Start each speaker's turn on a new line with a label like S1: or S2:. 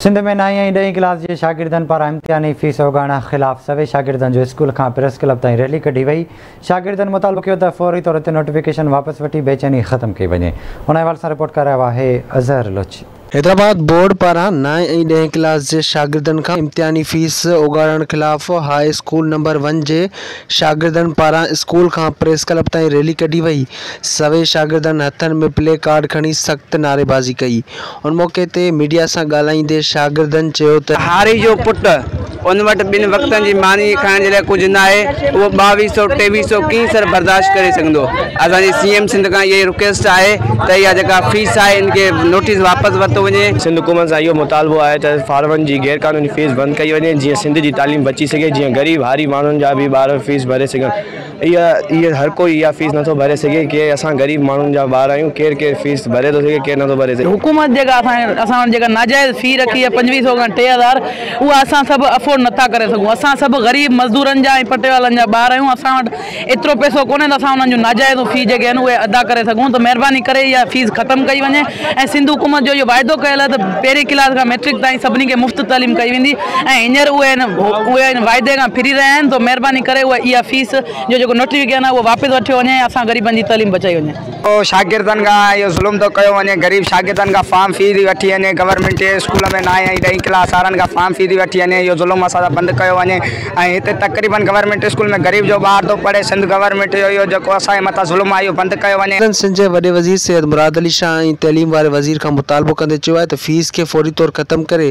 S1: سنڌ ۾ نائين ۽ ڏهين ڪلاس جي شاگردن پاران امتحاني فيس اوڳاڻڻ خلاف سوين شاگردن جو اسڪول کان پريس ڪلب تائين ريلي ڪڍي وئي، شاگردن مطالبو ڪيو ته فوري طور تي نوٽيفڪيشن واپس وٺي بيچيني ختم ڪئي وڃي، ان حوالي سان رپورٽ ڪري رهيو آهي اظهر لوڇي. حيدرآباد، بورڊ
S2: پاران نائين ۽ ڏهين ڪلاس جي شاگردن کان امتحاني فيس اوڳاڙڻ خلاف هاء اسڪول نمبر ون جي شاگردن پاران اسڪول کان پريس ڪلب تائين ريلي ڪڍي وئي، سوين شاگردن هٿن ۾ پلي ڪارڊ کڻي سخت نعريبازي ڪئي، ان موقعي تي ميڊيا سان ڳالهائيندي شاگردن چيو ته. هاري جو پٽ،
S3: ان وٽ ٻن وقتن جي ماني کائڻ جي لاء ڪجهه ناهي، اهو ٻاويهه سئو ٽيويهه سئو ڪئين سر برداشت ڪري سگهندو، اسان جي سي ايم سنڌ کان اهائي رڪويسٽ آهي ته اها جيڪا فيس آهي ان کي نوٽيس واپس ورتو وڃي، سنڌ حڪومت سان اهو
S4: مطالبو آهي ته فارمن جي غير قانوني فيس بند ڪئي وڃي جيئن سنڌ جي تعليم بچي سگهي جيئن غريب هاري ماڻهن جا به ٻار فيس ڀري سگهن. اهي اهي هر ڪوئي اها فيس نٿو ڀري سگهي ڪي اسان غريب ماڻهن جا ٻار آهيون ڪير ڪير فيس ڀري ٿو سگهي ڪير نٿو ڀري سگهي. حڪومت جيڪا اسان
S5: اسان وٽ جيڪا ناجائز في رکي آهي پنجويهه سئو کان ٽي هزار اها اسان سڀ افورڊ نٿا ڪري سگهون اسان سڀ غريب مزدورن جا ۽ پٽيوالن جا ٻار آهيون اسان وٽ ايترو پئسو ڪونهي ته اسان انهن جون ناجائزون في جيڪي آهن اهي ادا ڪري سگهون ته مهرباني ڪري اها فيس ختم ڪئي وڃي ۽ سنڌ حڪومت جو اهو واعدو ڪيل آهي ته پهرين ڪلاس کان مئٽرڪ تائين سڀني کي مفت تعليم ڪئي ويندي ۽ هينئر اهي ان واعدي کان ڦري رهيا آهن، سو مهرباني ڪري اهي اها فيس جو جيڪو نوٽيفڪيشن آهي اهو واپس وٺيو وڃي ۽ اسان غريبن جي تعليم بچائي وڃي. شاگردن کان
S3: اهو ظلم ٿو ڪيو وڃي، غريب شاگردن کان فارم في ٿي وٺي وڃي، گورنمينٽ جي اسڪول ۾ نائين ۽ ڏهين ڪلاس وارن کان فارم في ٿي وٺي وڃي، اهو ظلم اسان سان بند ڪيو وڃي ۽ هتي تقريبن گورنمينٽ اسڪول ۾ غريب جو ٻار ٿو پڙهي، سنڌ گورنمينٽ جو اهو جيڪو اسان جي مٿان ظلم آهي اهو بند ڪيو وڃي. سندن سنڌ جي وڏي وزير سيد
S2: مراد علي شاهه ۽ تعليم واري وزير کان مطالبو ڪندي چيو آهي ته فيس کي فوري طور ختم ڪري